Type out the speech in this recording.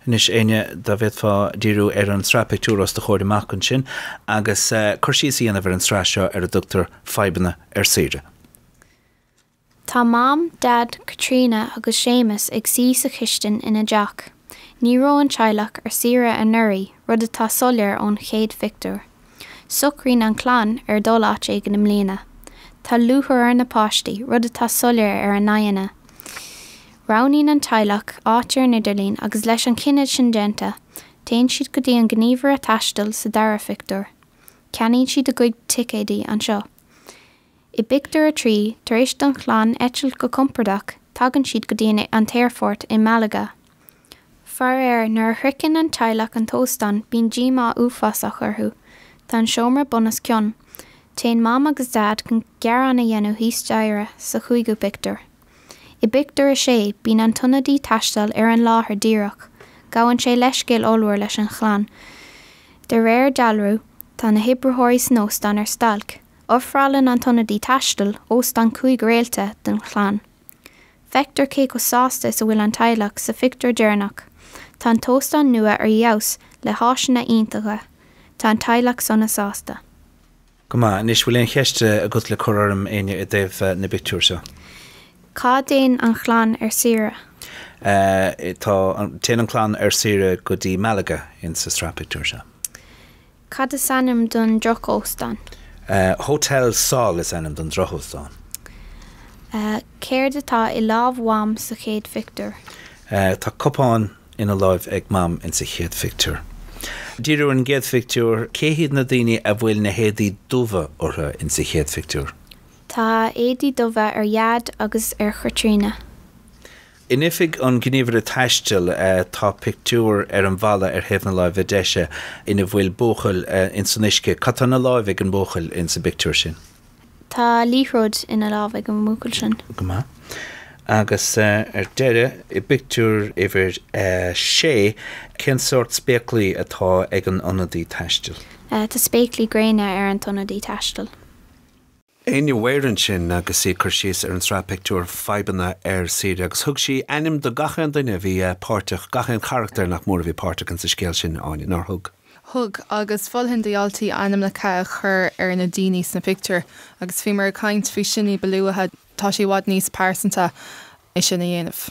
Anois, Áine, dá bhféadfá díriú ar an tsraith pictiúr os do chomhair amach ansin agus cur síos a dhéanamh ar an tsraith seo ar a dtugtar 'Fadhbanna ar Saoire'. Tá Mam, Dad, Caitríona agus Séamus ag suí sa chistin ina dteach. Ní raibh an teaghlach ar saoire anuraidh, rud atá soiléir ón chéad phictiúr. Socraíonn an chlann ar dul áit éigin i mbliana. Tá lúchair ar na páistí, rud atá soiléir ar a n-aghaidheanna. Roghnaíonn an teaghlach áit ar an idirlíon agus leis an chinneadh sin déanta, téann siad go dtí an gníomhaire taistil sa dara phictiúr. Ceannaíonn siad a gcuid ticéadaí anseo. I bpictiúr a trí, tar éis don chlann eitilt go compordach, tagann siad go dtí an t-aerfort i Malaga. Faraor, nuair a shroicheann an teaghlach an t-óstán, bíonn díomá uafásach orthu. Tá an seomra bunoscionn. Téann Mam agus Dad chun gearán a dhéanamh thíos staighre, sa chúigiú pictiúr. I bpictiúr a sé, bíonn an t-ionadaí taistil ar an láthair díreach. Gabhann sé leithscéal ollmhór leis an chlann. De réir dealrú, tá na hoibritheoirí san óstán ar stailc. Ofrálann an t-ionadaí taistil óstán cúig réalta don chlann. Feictear cé chomh sásta is a bhfuil an teaghlach sa phictiúr deireanach. Tá an t-óstán nua ar fheabhas, le háiseanna iontacha. Tá an teaghlach sona sásta. Go maith. Anois, an bhfuil aon cheist agat le cur orm, Áine, i dtaobh na bpictiúr seo? Cá dtéann an chlann ar saoire? Tá an, téann an chlann ar saoire go dtí Malaga, in sa sraith pictiúr seo. Cad is ainm don drochóstán? Hotel Sol is ainm don drochóstán. Céard atá i lámh Mham sa chéad phictiúr? Tá cupán ina láimh ag Mam in sa chéad phictiúr. Dírigh ar an gcéad phictiúr. Cé hiad na daoine a bhfuil na héadaí dubha orthu in sa chéad phictiúr? Tá éadaí dubha ar Dhaid agus ar Chaitríona. In oifig an ghníomhaire taistil tá pictiúr ar an bhalla ar thaobh na láimhe deise ina bhfuil buachaill ins an uisce. Cad tá ina láimh ag an mbuachaill insa pictiúr sin? Tá liathróid ina láimh ag an mbuachaill sin. Go maith. Agus ar deireadh, i bpictiúr uimhir sé, cén sórt spéaclaí atá ag an ionadaí taistil? Tá spéaclaí gréine ar an t-ionadaí taistil. Áine Bheirn ansin agus í ag cur síos ar an tsraith pictiúr Fadhbanna ar Saoire, agus thug sí ainm do gachan duine a bhí páirteach, gachan charachtar nach mór a bhí páirteach insa scéal sin, Áine, nár thug? Thug, agus mholfainn do dhaltaí ainmneacha a chur ar na daoine sna pictiúir, agus bhíomar ag caint faoi sin ní ba luaithe, tá sé i bhfad níos pearsanta é sin a dhéanamh.